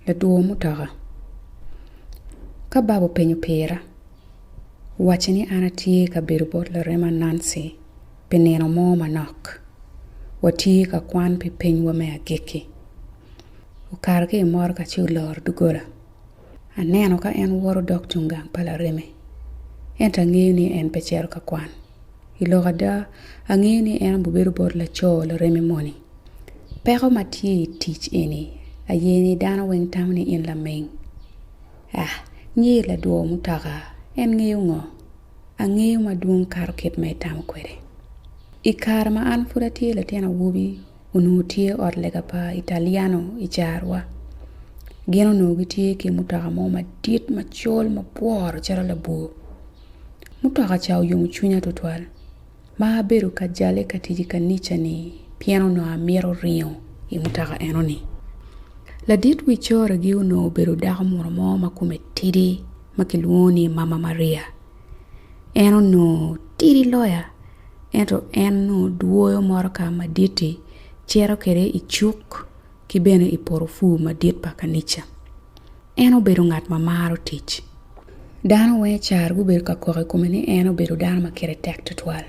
Ladwor mutoka, ka baba openyo pira, wacce ni an atye ka bedo bot larema Nancy pi nino mo manok. Watye ka kwan pi pinywa me agikki. Okato ki i motoka ci oloro doggola. Aneno ka en woto dok cung gang pa lareme, ento angeyo ni en pe cito ka kwan. I lok ada, angeyo ni en aye bedo bot laco lareme moni. Peko ma tye i tic eni aye ni dano weng tamo ni in laming. Ah, nyer ladwor mutoka en ngeyo ngo? Angeyo madwong kato kit ma itamo kwede. I kare ma an pud atye latin awobi, onongo tye ot lega pa Italiano i carowa. Gin onongo gitye ki mutoka mo madit macol mabworo calo labwor. Mutoka ca oyomo cwinya twatwal ma abedo ka jale ka tic i kanica-ni pien onongo amito ringo i mutoka enoni. Ladit wi coragi onongo obedo dako muno mo ma kome tidi ma kilwongo ni Mama Maria. En onongo tidi loyo. ento en nongo dwoyo motoka madit-ti, cito kwede i cuk ki bene i porofur madit pa kanica. En obedo ngat ma maro tic. Dano weng caro gubedo ka kok i kome ni en obedo dano ma kite tek tutwal.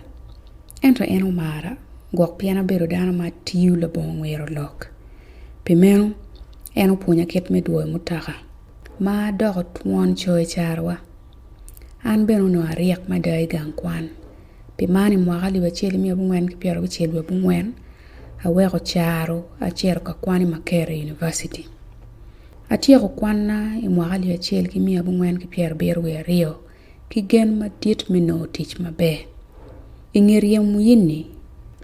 Ento en omara gwok pien abedo dano ma tiyo labongo ngwero lok. Pi meno, en opwonya kit me dwoyo mutoka ma doko twon coyo i carewa. An bene onongo aryek mada i gang kwan. Pi man i mwaka alip acel ki miya abongwen ki pyera abicel wiye abongwen, aweko caro acito ka kwan i Makerere Yunivaciti. Atyeko kwanna i mwaka alip acel ki miya abongwen ki pyera abiro wiye aryo ki gen madit me nongo tic maber. I nge ryem wiyini,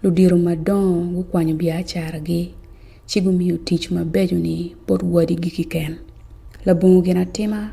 ludito madongo gukwanyo biacaragi ci gumiyo tic mabeco-ni bot wadigi kiken. Labongo ginatima.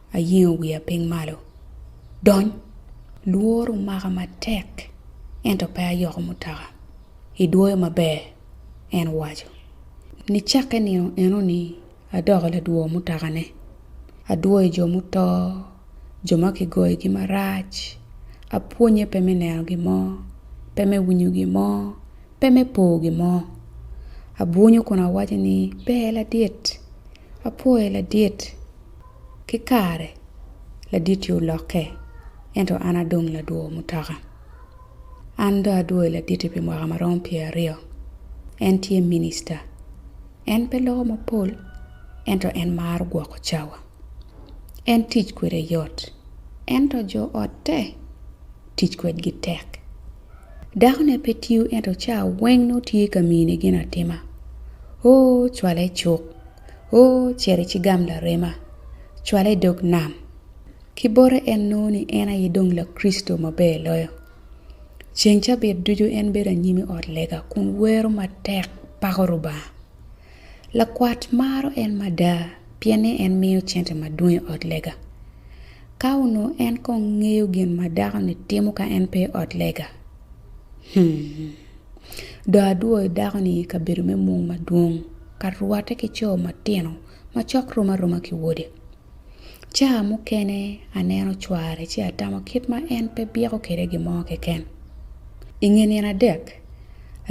Ayengo wiya piny malo. Dony! Lworo omaka matek, ento pe ayoko mutaka. Idwoyo maber! en owaco. Nicakke nino eno-ni adoko ladwor mutakane. Adwoyo jo muto, jo ma kigoyogi marac. Apwonnye pe me neno gin mo, pe me winyo gin mo, pe me po gin mo. Abwunyo kun awaco ni, Ber ladit! Apwoye ladit! Ki kare, laditi olokke, ento an adong ladwo mutoka. An dong adwo i laditi pi mwaka ma romo pyeraryo. En tye minista. En pe loko mapol, ento en maro gwoko cawa. En tic kwede yot, ento jo otte tic kwedgi tek. Dakone pe tiyo, ento cawa weng nongo tye ka mine ginatima. Oo, cwale cuk! Oo, cer icigam larema, cwale i dog nam. Ki bote en nongo ni en aye dong Lakricito maber loyo. Ceng cabit ducu en bedo anyim i ot lega kun wero matek, pako Rubanga. Lakwat maro en mada pien ni en miyo cente madwong i ot lega. Ka onongo en kong ngeyo gin ma dako-ni timo ka en pe i ot lega, hum! Dong adwoyo dako-ni i kabedo me mung madwong ka rwatte ki co matino macok rom aroma ki wode. Ca mukene aneno cware ci atamo kit ma en pe byeko kwede gin mo keken. I nge nino adek,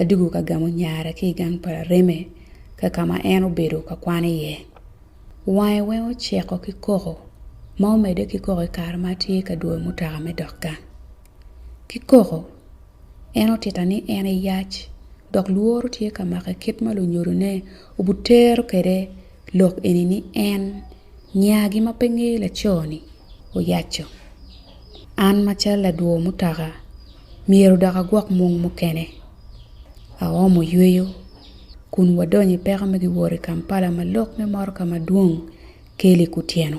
adwogo ka gamo nyare ki i gang pa lareme ka ka ma en obedo ka kwano iye. Wange weng oceko ki koko ma omedde ki koko i kare ma atye ka dwoyo mutoka me dok gang. ki koko, en otita ni en eyac dok lworo tye ka make kit ma lunyodone obitero kwede lok eni ni en nyagi ma pe ngeyo laco-ni oyaco. An macalo ladwo mutoka myero dok agwok mung mukene. Aomo yweyo kun wadonyo i peko me giwot i Kampala ma lok me motoka madwong Kelly Kutyeno.